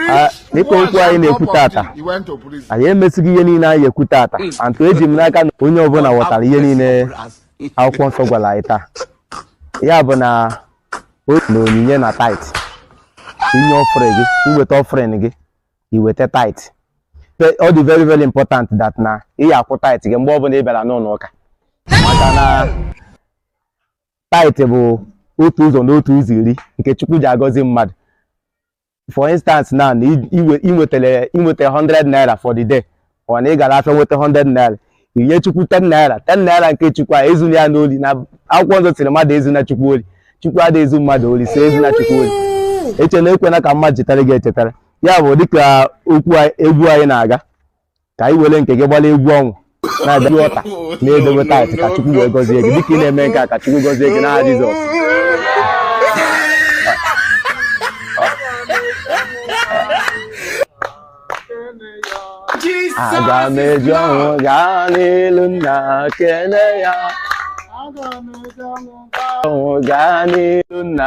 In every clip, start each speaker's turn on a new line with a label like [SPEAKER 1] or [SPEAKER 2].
[SPEAKER 1] Ah, dịka okwu anyị na-ekwu tata anyị emesighị ihe niile anyị ekwu tata hmm. antụ eji m n'aka na onye ọbụla ghọtara ihe niile akwụkwọ nsọ gwara anyị taa ya bụ na otu na onyinye na tithe inye offering gị iweta offering gị iweta tithe ọ dị very very important that na ị ya akwụ tithe gị mgbe ọbụla ị bịara n'ụlọ ụka maka na tithe bụ otu ụzọ na otu ụzọ iri nke chukwu ji agọzi mmadụ for instance now na i- iwe- inwetele inweta 100 naira for the day ọ na ị gara afịa nweta 100 naira inye chukwu 10 naira 10 naira nke chukwu a ezuna ya n'oli na akwụkwọ nsọ sịrị mmadụ ezuna chukwu oli chukwu adịghị ezu mmadụ oli so ezuna chukwu oli echela ekwena ka mmadụ chetara gị echetara ya bụ dịka okwu anyị- egwu anyị na-aga ka ị were nke gị gbara egwu ọṅụ na-abịa altar na-edobe tithe ka chukwu wee gọzie gị dịka ị na-eme nke a ka chukwu gọzie gị n'aha jizọs aga m eji ọṅụ gaa n'ilu nna kene ya ọṅụ gaa n'ilu nna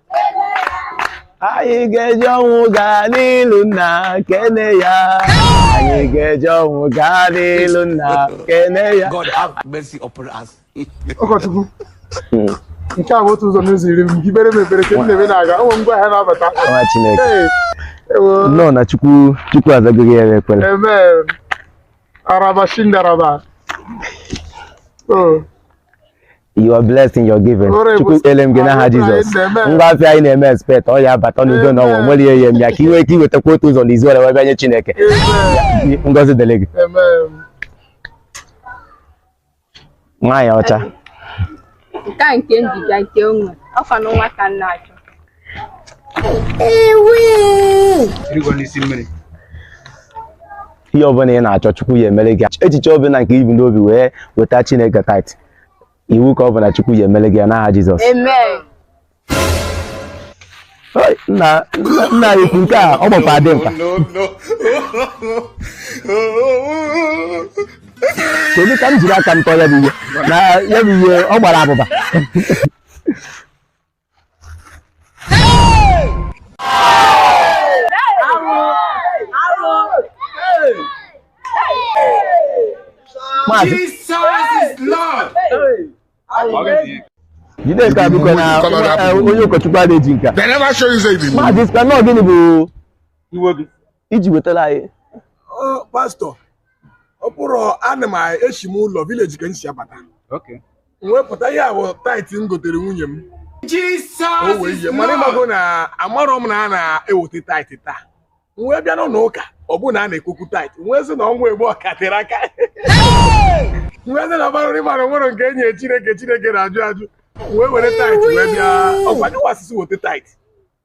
[SPEAKER 1] anyị ga-eji ọṅụ gaa n'ilu nna kene ya anyị ga-eji ọṅụ gaa n'ilu nna kene ya God have mercy upon
[SPEAKER 2] us. ụkọchukwu
[SPEAKER 3] nke a bụ otu ụzọ n'ụzọ iri m kpebere m ekpere ka m na-eme na-aga ụmụ ngwa ahịa na-abata nwa
[SPEAKER 1] chineke Ee, ewo, nnọọ na chukwu chukwu azago gị ya ekpere amen.
[SPEAKER 3] araba shindaraba Oh,
[SPEAKER 1] you are blessed in your giving chukwu ekpele m gị n'aha jizọs ngwa afịa anyị na-eme expect ọ ya abata n'udo na ọṅụ nwere ihe m ya ka i nwee ike iwetakwa otu ụzọ n'ụzọ iri ya wee nye chineke ngọzi dịrị gị nwaanyị ọcha
[SPEAKER 4] nke a nke m ji bịa nke onwe ọkwa na nwa ka m na-achọ
[SPEAKER 1] ihe ọbụla ị na-achọ chukwu ya emere gị echiche ọbụla nke i bu n'obi wee weta chineke tithe iwu ka ọ bụ na chukwu ya emele gị ya n'aha
[SPEAKER 4] jizọs Amen.
[SPEAKER 1] Oi, nna nna- nna anyị ukwu nke a ọ gbakwa dimkpa kedu ka m jiri aka m tọọ ya bụ ihe na ya bụ ihe ọ gbara abụba Jide ka biko na onye ụkọchukwu a na-eji nka. Maazị
[SPEAKER 3] Sika, nnọọ gịnị bụ
[SPEAKER 1] iwe gị? iji wetara anyị
[SPEAKER 3] pastor ọ bụrụ ana m eshi m ụlọ village ka m si
[SPEAKER 2] abata wepụta ihe a
[SPEAKER 3] bụ tight m gotere nwunye m o
[SPEAKER 2] wee ihe mana ịmago na
[SPEAKER 3] amarọ m na a na-eweta tithe taa m wee bịa n'ụlọ ụka ọ bụrụ na a na-ekwu okwu tithe m wee sị na ọnwa egbu ọka tere aka m wee sị na ọbara nri mara nwere nke e nye chineke chineke na-ajụ ajụ wee were tight wee bịa ọ kwa ndị wa sị sị weta tithe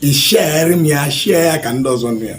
[SPEAKER 5] i sharere m ya share ya ka ndị ọzọ nụ ya